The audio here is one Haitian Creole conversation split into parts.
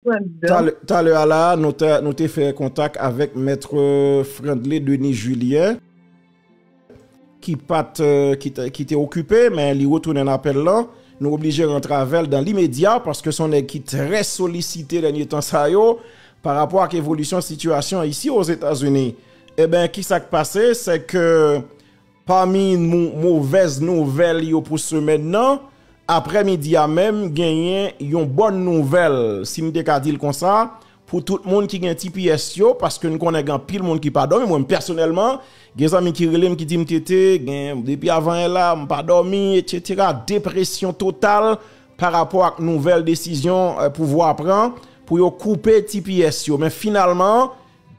Frandl. Talè a la a, nou te fè kontak avèk Maitre Frandly Denis Julien, ki pa t, ki te okipe, men li retounen nan apèl lan. Nou oblije rantre avè l dan limedya, paske se yon nèg ki trè solisite dènye tan sa yo, pa rapò ak evolisyon sitiyasyon isi Ozetazini. Eben, ki sa k pase, se ke Pami movèz nouvèl yo pou semèn nan, aprè midi a menm genyen yon bòn nouvèl, si m te ka di l konsa, pou tout moun ki gen tps yo, paske n konnen gen anpil moun ki pa dòmi, mwen m pèsonèlman, gen zanmi ki rele m ki di m TT, gen depi avanyè la, m pa dòmi, etc. Depresyon total pa rapò ak nouvèl desizyon pouvwa pran pou yo koupe tps yo. Men finalman,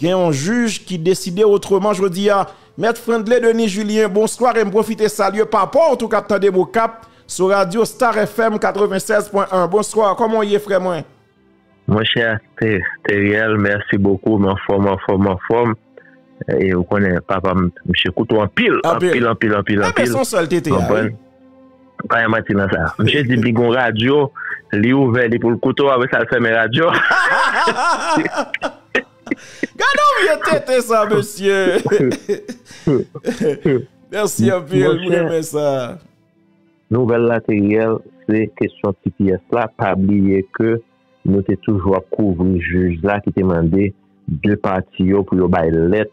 Gen yon jij ki deside otreman jodi a. Mèt Frandley Denis Julien, bonswa e m pwofite salye papa w tou k ap tande m Okap sou radyo Star FM 96 pwen 1. Bonswa, kòman w ye frè mwen? Monchè Theriel, mèsi bokou, m anfòm, anfòm, anfòm. E ou konnen papa m, msye koute w anpil, anpil, anpil, anpil, anpil. Enben se yon sèl tete a wi. Pa gen manti nan sa. Misye di li gon radyo, li ouvè li pou l koute w apre sa l fèmen radyo a. Gadon vye tenten sa mesye. Merci anpil m renmen sa. Nouvèl la te reyèl se kesyon tps la pa bliye ke. Nou te toujou ap kouvri jij la ki te mande 2 pati yo pou yo bay lèt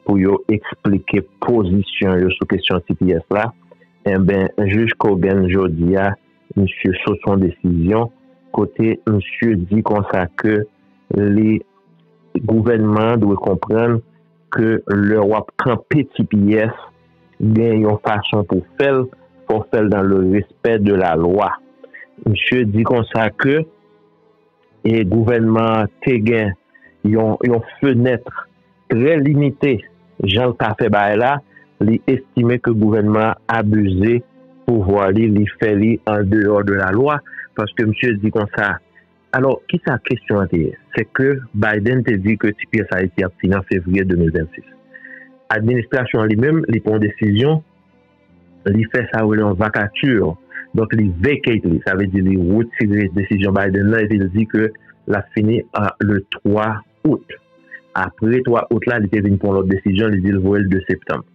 pou yo eksplike pozisyon yo sou kesyon tps la. Enben, jij Cogan jodi a, misye sot yon desizyon kote misye di konsa ke li gouvènman an dwe konprann, Ke lè wap kanpe ti pyès gen yon fason pou fèl, fò fèl dan le respè de la lwa. Misye di konsa ke e gouvènman an te gen yon yon fenèt trè limite janl ka fè bagay la, li estime ke gouvènman an abize pouvwa li, li fè li an deyò de la lwa, paske misye di konsa Alò, ki sa kesyon an te ye? Se ke Biden te di ke ti pyès Ayiti ap fini an fevriye 2026. Administrasyon an li menm, li pran yon desizyon, li fè sa yo rele yon vacature, donk li vacate li, sa vle di li retire desizyon Biden nan epi li di ke l ap fini le 3. Out. Apre 3 Out la li te vin pran lòt desizyon li di l voye l 2 Septanm.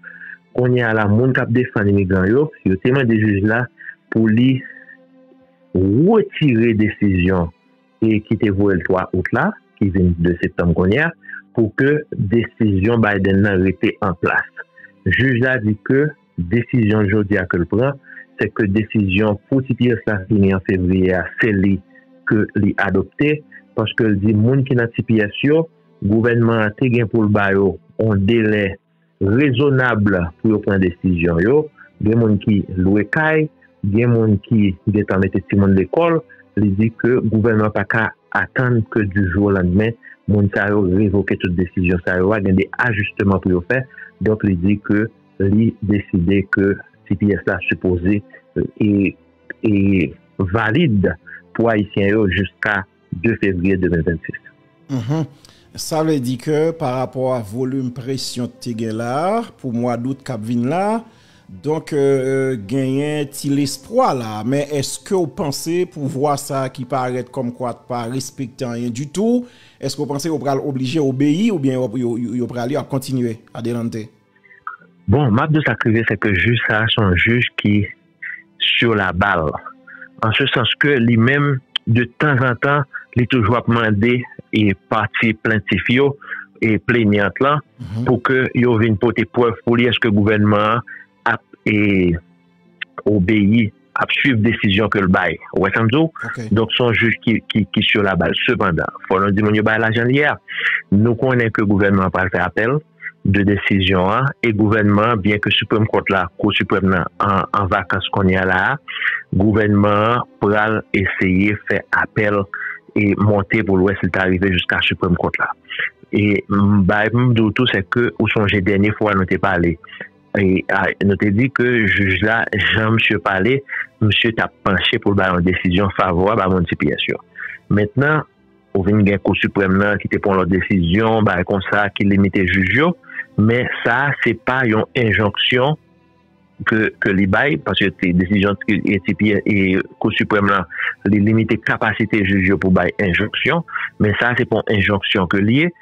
Kounye a la moun k ap defann imigran yo, yo te mande jij la pou li retire desizyon ki te voye l 3 Out la, ki vin 2 Septanm kounye a, pou ke desizyon Biden nan rete an plas. Jij la di ke. Desizyon jodi a ke l pran, se ke desizyon pou tps la fini an fevriye a, se li ke li adopte, paske l di moun ki nan tps yo, gouvènman an te gen pou l ba yo yon delè rezonab pou yo pran desizyon yo. Gen moun ki lwe kay, gen moun ki gentan mete timoun lekòl, li di ke gouvènman pa ka atann ke di jou o landmen moun sa yo revoke tout desizyon sa yo a, gen de ajisteman pou yo fè, donk li di ke. li deside ke tps la sipoze e valid pou ayisyen yo jiska 2 fevriye 2026. Sa vle di ke pa rapò a volim presyon k te gen la pou mwa dout k ap vin la, donk genyen ti lespwa la. Men eske w panse pouvwa sa ki parèt kòmkwa t pa respekte anyen ditou, eske w panse yo pral oblije obeyi oubyen yo pral yo ap kontinye adelante? Bon, m ap di w sa k rive se ke jij sa a se yon jij ki sur la balle an se sans ke li menm de tanzantan li toujou ap mande pati plentif yo e plenyant lan pou ke yo vin pote prèv pou li eske gouvènman an ap e. obeyi, ap swiv desizyon ke l bay. Ou wè sa m di w? Donk se yon jij ki sur la bal. Sepandan, fò nou di moun yo bay lajan li a. Nou konnen ke gouvènman an pral fè apèl de desizyon an e gouvènman an, byen ke Supreme Court la, Kou Siprèm nan, an vakans kounye a la a, gouvènman an pral eseye fè apèl e monte pou l wè si l ta rive jiska Supreme Court la. E m bay, m di w tou, se ke ou sonje dènye fwa nou te pale, Nou te di ke jij la, jan misye pale, misye ta panche pou l bay yon desizyon favorab a moun tps yo. Mentnan, ou vin gen Kou Siprèm nan ki te pran lòt desizyon, bagay konsa, ki limite jij yo. Men sa a se pa yon enjonksyon ke li bay, paske se desizyon Kou Siprèm lan, li limite kapasite jij yo pou bay enjonksyon. Men sa a se pa yon enjonksyon ke li ye.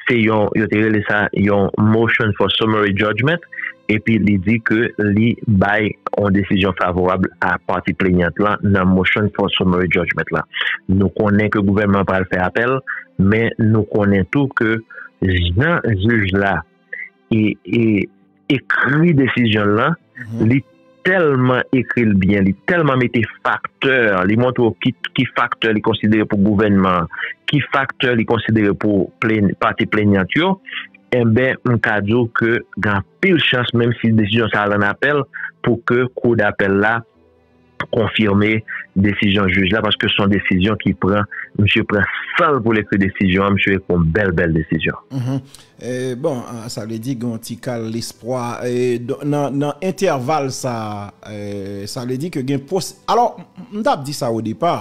Se yon, yo te rele sa yon motion for summary judgment, epi li di ke li bay yon desizyon favorab a pati plenyant lan nan motion for summary judgment la. Nou konnen ke gouvènman an pral fè apèl, men nou konnen tou ke jan jij la. ekri desizyon l lan, li tèlman ekri l byen, li tèlman mete faktè, li montre w ki faktè li konsidere pou gouvènman an, ki faktè li konsidere pou pati plenyan yo, enben m ka di w ke gen anpil chans menm si desizyon sa al an apèl pou ke kou dapèl la. konfime desizyon jij la paske son desizyon ki pran misye pran sanl poul ekri desizyon an misye ekri yon bèl bèl desizyon. Bon sa vle di gen yon ti kal lespwa nan entèval sa sa vle di ke gen posi alò m tap di sa odepa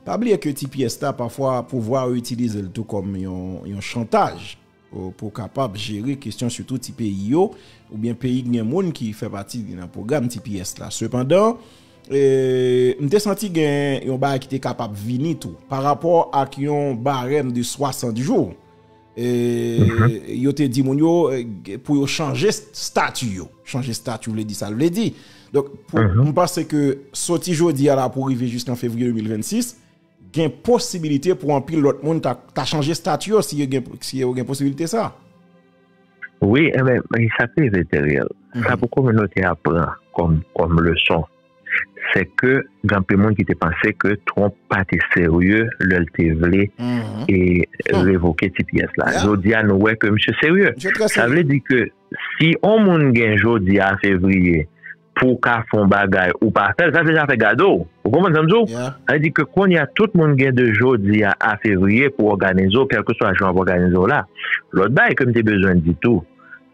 pa bliye ke ti pyès la pafwa pouvwa yo itilizel tou kòm yon chantaj. Pou w kapab jere kesyon sitou ti peyi yo, oubyen peyi ki gen moun ki fè pati nan pwogram tps la. Sepandan, m te santi gen yon bagay ki te kapab vini tou, parapò ak yon barèm de 60 jou, yo te di moun yo pou yo chanje stati yo. Chanje stati vle di sa l vle di. Donk, m panse ke soti jodi a la pou rive jiskan fevriye 2026, Gen posibilite pou anpil lòt moun ta chanje stati yo si yo gen posibilite sa? Wi, enben, sa k rive Theriel, sa pou kominote a pran kòm leson, se ke gen anpil moun ki te panse ke Trump pa te serye lè l te vle revoke tps la. Jodi a nou wè ke misye serye. Sa vle di ke si yon moun gen jodi a fevriye, Pou w ka fè yon bagay ou pa fè l, sa se zafè gade w. Ou konprann sa m di w? Sa vle di ke kounye a tout moun gen de jodi a a fevriye pou w òganize w kèlkeswa jan w ap òganize w la. Lòt bagay ke m te bezwen di tou,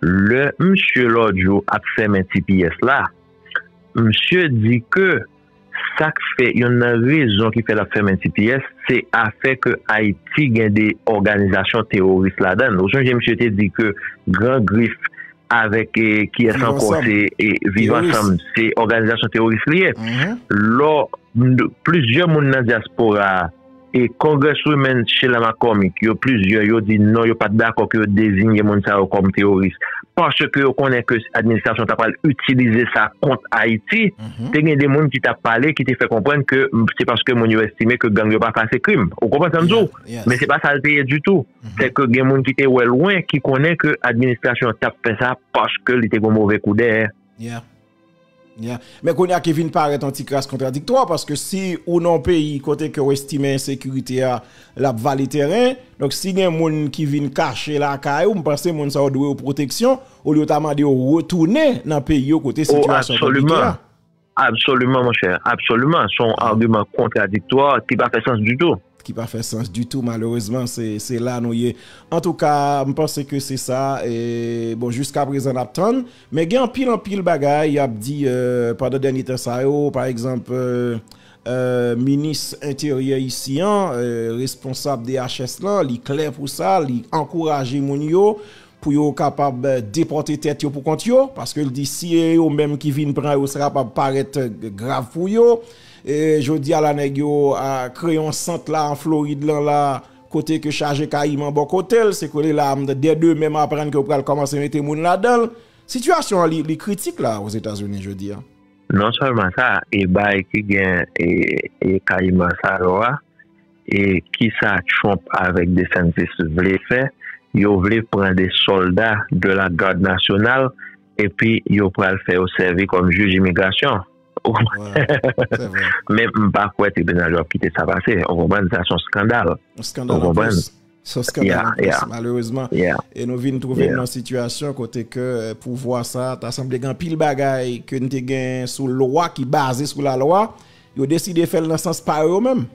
lè msye lòt jou ap fèmen tps la, msye di ke. Sak fè yonn nan rezon ki fè lap fèmen tps se afè ke Ayiti gen 2 òganizasyon teworis ladann. Ou sonje misye te di ke Gran Grif avèk kiyès ankò se Viv Ansanm se òganizasyon teworis li ye. Lò plizyè moun nan dyaspora a. E Congresswomen Sheila McCormick yo plizyè yo di non yo pat dakò ke yo dezinye moun sa yo kòm teworis paske yo konnen ke administrasyon ta pral itilize sa kont Ayiti. Te gen de moun ki tap pale ki te fè konprann ke se paske moun yo estime ke gang yo pa fè ase krim. Ou konprann sa m di w? Men se pa sa l te ye ditou. Se ke gen moun ki te wè lwen ki konnen ke administrasyon tap fè sa paske li te gen yon move kou dèyè. Men kounye a ki vin parèt an ti kras kontradiktwa paske si ou nan yon peyi kote ke ou estime ensekirite a l ap vale tèren, donk si gen moun ki vin kache lakay ou, m panse moun sa yo dwe yo pwoteksyon olye yo ta mande yo retounen nan peyi yo kote sitiyasyon konplike a. Absoliman monchè, absoliman, son agiman kontradiktwa ki pa fè sans ditou. Ki pa fè sans ditou malerezman se la nou ye. Antouka m panse ke se sa bon jiska prezan n ap tann. Men gen anpil anpil bagay y ap di pandan dènye tan sa yo pa egzanp minis enteryè isi an responsab DHS lan li klè pou sa li ankouraje moun yo pou yo kapab depòte tèt yo pou kont yo, paske l di si e yo menm ki vin pran yo sa kapab parèt grav pou yo, jodi a la nèg yo kreye yon sant la an Florid lan la kote ke chaje kayiman bò kote l, se ke li la dè demen m aprann ke yo pral kòmanse mete moun ladan l, sitiyasyon an li kritik la o Zetazini jodi a. Non sèlman sa, e bay ki gen e kayiman sa yo a. E kisa Trump avèk DeSantis vle fè? Yo vle pran 2 sòlda de la Garde Nationale epi yo pral fè yo sèvi kòm jij imigrasyon. Ou konprann? Men m pa kwè tribinal yo ap kite sa pase. Ou konprann? Sa se yon skandal. Yon skandal anplis. Ou konprann? Son skandal an plis malerezman. E nou vin twouve nan sitiyasyon kote ke pouvwa sa ta sanble gen anpil bagay ke n te gen sou lwa ki baze sou la lwa. Yo deside fè l nan sans pa yo menm.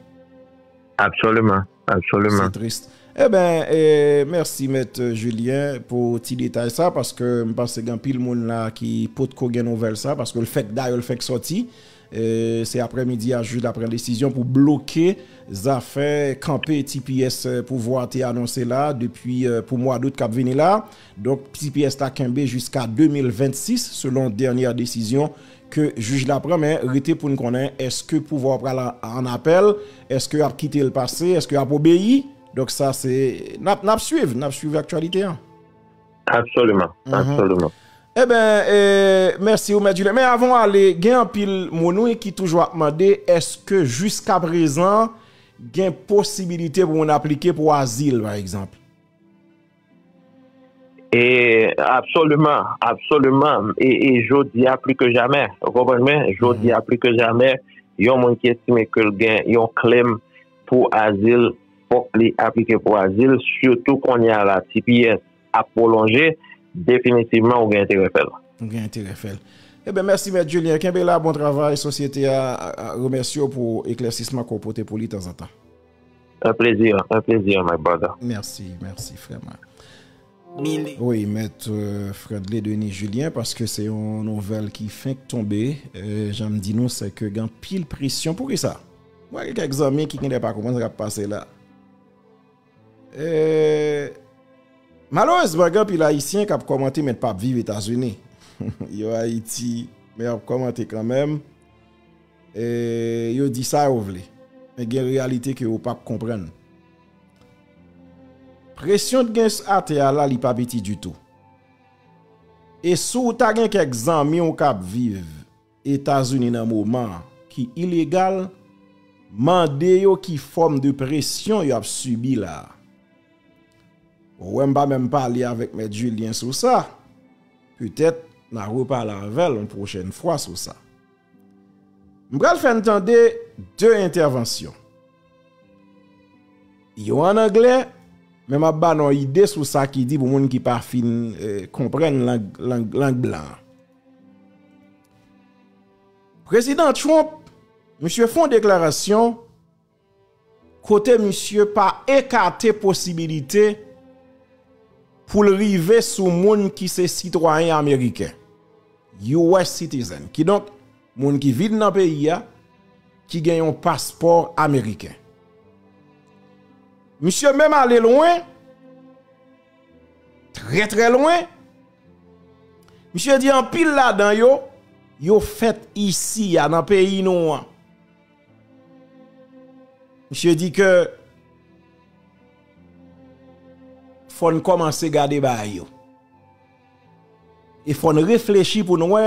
Absoliman. Absoliman. Se tris. E ben, mèsi mèt Julien pou ti detay sa paske m panse gen anpil moun la ki potko gen nouvèl sa paske l fèk dayè l fèk soti. Se aprè midi a jij la pran desizyon pou bloke zafè kanpe tps pouvwa te anonse la depi pou mwa dout kap vini la. Donk tps ta kenbe jiska 2026 selon dènyè desizyon ke jij la pran men rete poun konnen eske pouvwa pral an apèl, eske yap kitel pase, eske yap obeyi. Donk sa se nap swiv, nap swiv aktyalite an. Absoluman, absoluman. E ben, mèsi ou Mèt Julien. Men avan w ale, gen anpil moun wi ki toujou ap mande eske jiska prezan gen posibilite pou moun aplike pou azil pa egzanp? E, absoluman, absoluman. E jodi a pli ke jamè. Ou konprann mwen? Jodi a pli ke jamè, yon moun ki estime ke l gen yon klèm pou azil. fòk li aplike pou azil sitou kounye a la tps ap pwolonje definitivman ou gen enterè fèl. Ou gen enterè fèl. Eben mèsi mèt Julien kenbe la bon travay sosyete a remèsye w pou eklèsisman ke w pote pou li tanzantan. Un plaisir, un plaisir my brother. Mèsi, mèsi frè mwen. Wi mèt Fredley Denis Julien paske se yon nouvèl ki fenk tonbe, jan m di nou se ke gen anpil presyon. Poukisa? Mwen gen kèk zanmi ki genlè pa konprann sa kap pase la. Malerezman gen anpil ayisyen kap kòmante men pap viv Etazini. Yo Ayiti men yap kòmante kanmenm. Yo di sa yo vle. Men gen reyalite ke yo pap konprann. Presyon t gen a tè a la li pa piti ditou. E si w ta gen kèk zanmi w kap viv. Etazini nan moman an ki ilegal mande yo ki fòm de presyon yo ap sibi la a. Ou wè m pa menm pale avèk Mèt Julien sou sa, petèt n a repale avè l yon pwochèn fwa sou sa. M pral fè n tande 2 entèvansyon. Yon an anglè, men m ap ba n yon ide sou sa ki di pou moun ki pa fin konprann lang blan an. Prezidan Trump, misye fon deklarasyon kote misye pa ekate posibilite pou l rive sou moun ki se sitwayen ameriken, US citizen, ki donk moun ki vin nan peyi a ki gen yon paspò ameriken. Misye menm ale lwen, trè trè lwen, Misye di anpil ladan yo, yo fèt isi a nan peyi nou an. Misye di ke fò n kòmanse gade bagay yo. E fò n reflechi pou n wè.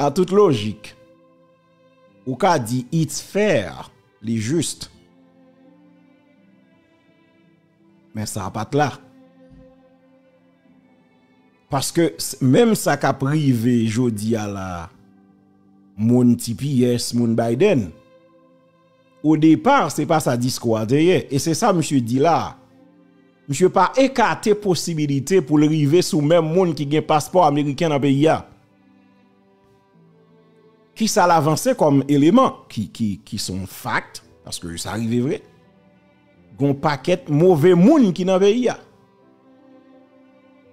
An tout lojik, ou ka di it's fair, li jist. Men sa pa t la. Paske menm sa k ap rive jodi a la, moun tps, moun Biden, O depa, se pa sa diskou a te ye, e se sa misye di la a. Misye pa ekate posibilite pou l rive sou menm moun ki gen paspò ameriken nan peyi a. Ki sa l avanse kòm eleman, ki son fakt, paske sa rive vre. Gon pakèt move moun ki nan peyi a.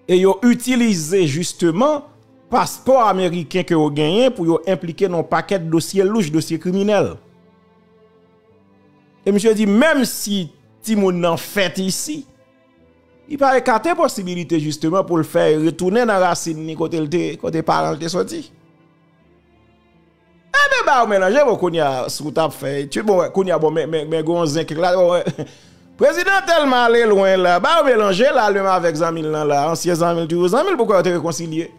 E yo itilize jisteman paspò ameriken ke yo genyen pou yo enplike nan yon pakèt dosye louch, dosye kriminèl. E misye di menm si timoun nan fèt isi, li pa ekate posibilite jisteman pou l fè retounen nan rasin ni kote paran l te soti. Ebyen bayo melanje bon kounya si w tap fè etid bon kounya bon men gon zen kèk la bon prezidan tèlman ale lwen la bayo melanje la menm avèk zanmi l lan la ansyen zanmi l toujou zanmi l poukò yo te rekonsilye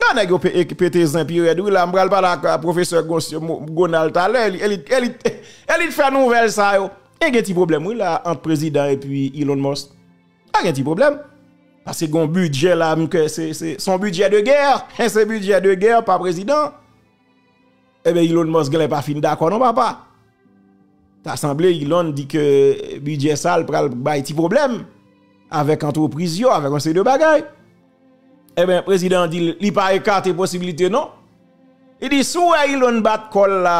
a nèg yo pete zen pi rèd wi la m pral pale ak pwofesè Gonal talè e li t fè nouvèl sa yo e gen ti pwoblèm wi la ant prezidan epi Elon Musk. Pa gen ti pwoblèm. Pase gon bidjè la m kè se son bidjè de gè. E se bidjè de gè pa prezidan. Ebe Elon Musk genlè pa fin dakò non papa. Ta sanble Elon di ke bidjè sa l pral bay ti pwoblèm. Avèk antrepriz yo, avèk yon seri de bagay. Ebe prezidan di li pa ekate posibilite non. Li di sou wè Elon bat kòl la.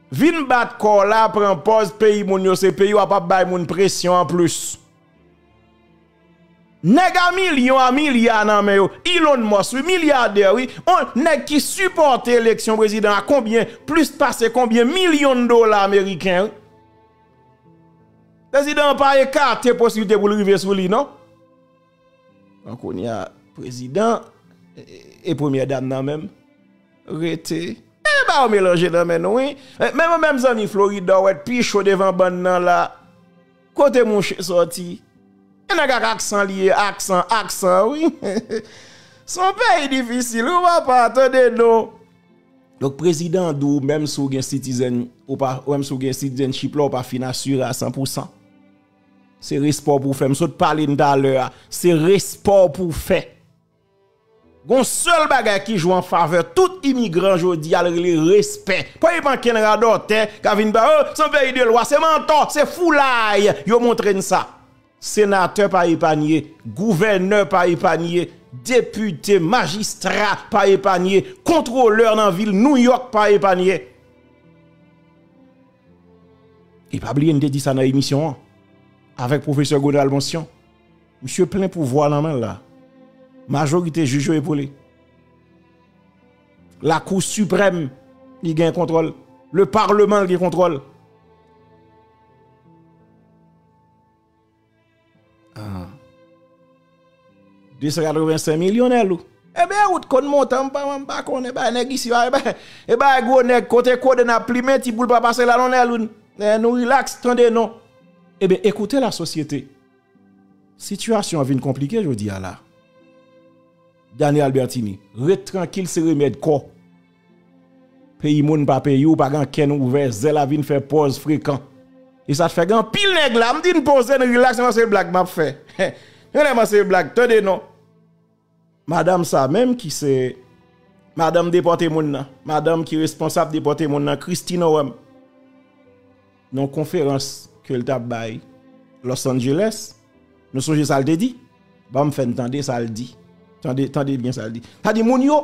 Vin bat kò w la pran pòz peyi moun yo se peyi w ap ap bay moun presyon anplis. Nèg a milyon a milya nan men yo, Elon Musk wi, milyadè wi, on nèg ki sipòte eleksyon prezidan a konbyen, plis pase konbyen milyon dola ameriken wi. Prezidan an pa ekate posiblite pou l rive sou li non. Bon kounye a prezidan e premyè dam nan menm rete. Menm bayo melanje nan men nou wi. Menm ou menm zanmi Florida ou et pi cho devan bann nan la. Kote mouche soti. E nèg ak aksan li ye aksan aksan wi. Son peyi difisil wi papa tande non. Donk prezidan di w menm si w gen citizen ou pa menm si w gen citizenship la ou pa fin asire a 100 pou 100. Se respè w pou w fè. M sot pale n talè a. Se respè w pou w fè. Gon sèl bagay ki jwe an favè tout imigran jodi a l rele respè. Pa gen ankenn radòtè k ap vin pale oh se yon peyi de lwa, se mantò, se foulay yo montre n sa. Senatè pa epanye, gouvènè pa epanye, depite, majistra pa epanye, kontwolè nan vil Nouyòk pa epanye. E pa bliye m te di sa nan emisyon an avèk pwofesè Gonal Mansyon, misye plen pouvwa nan men l la, majorite jij yo epole, lakou siprèm li gen kontwòl, le parleman l gen kontwòl. 285 milyonè lou. E bè ou t konn montan m pa m pa konn e bè nèg isi a e bè e bè gwo nèg kote kode nan plimen ti boul pa pase la non nè lou nè nou relax tande non. E bè ekoute la sosyete. Sitiyasyon an vin konplike jodi a la. Dani Albertini ret trankil se remèd kò. Peyi moun pa peyi w pa gen ankenn ouvè zèl a vin fè pòz frekan e sa fè gen anpil nèg la m di n poze n rilaks nan se blag m ap fè yon lè man se blag tande non madanm sa menm ki se madanm depòte moun nan madanm ki responsab depòte moun nan Christine Orem nan konferans ke l t ap bay Los Angeles nou sonje sa l te di ban m fè n tande sa l di tande tande byen sa l di sa l di moun yo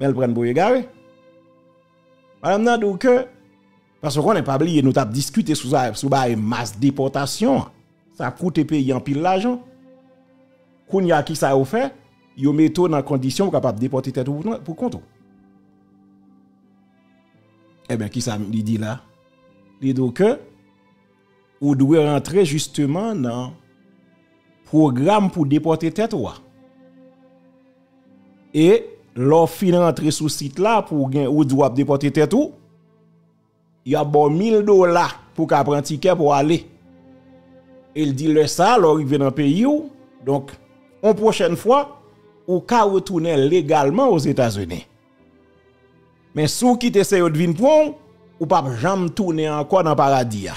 Men l prann pou egare. Madam nan di w ke, paske w konnen pa bliye nou t ap diskite sou sa, sou bagay mas depòtasyon an, sa ap koute peyi anpil lajan. Kounye a kisa yo fè, yo mete w nan kondisyon ou kapab depòte tèt ou pou kont ou. Eben kisa li di la? Li di w ke. Ou dwe rantre jisteman nan pwogram pou depòte tèt ou a. E lò ou fin rantre sou sit la pou gen ou di w ap depòte tèt ou, y ap ba w 1000 dola pou ka pran tikè pou ale. E l di lè sa lò rive nan peyi ou, donk yon pwochèn fwa, ou ka retounen legalman Ozetazini. Men si w kite se yo t vin pran w, ou p ap janm tounen ankò nan paradi a.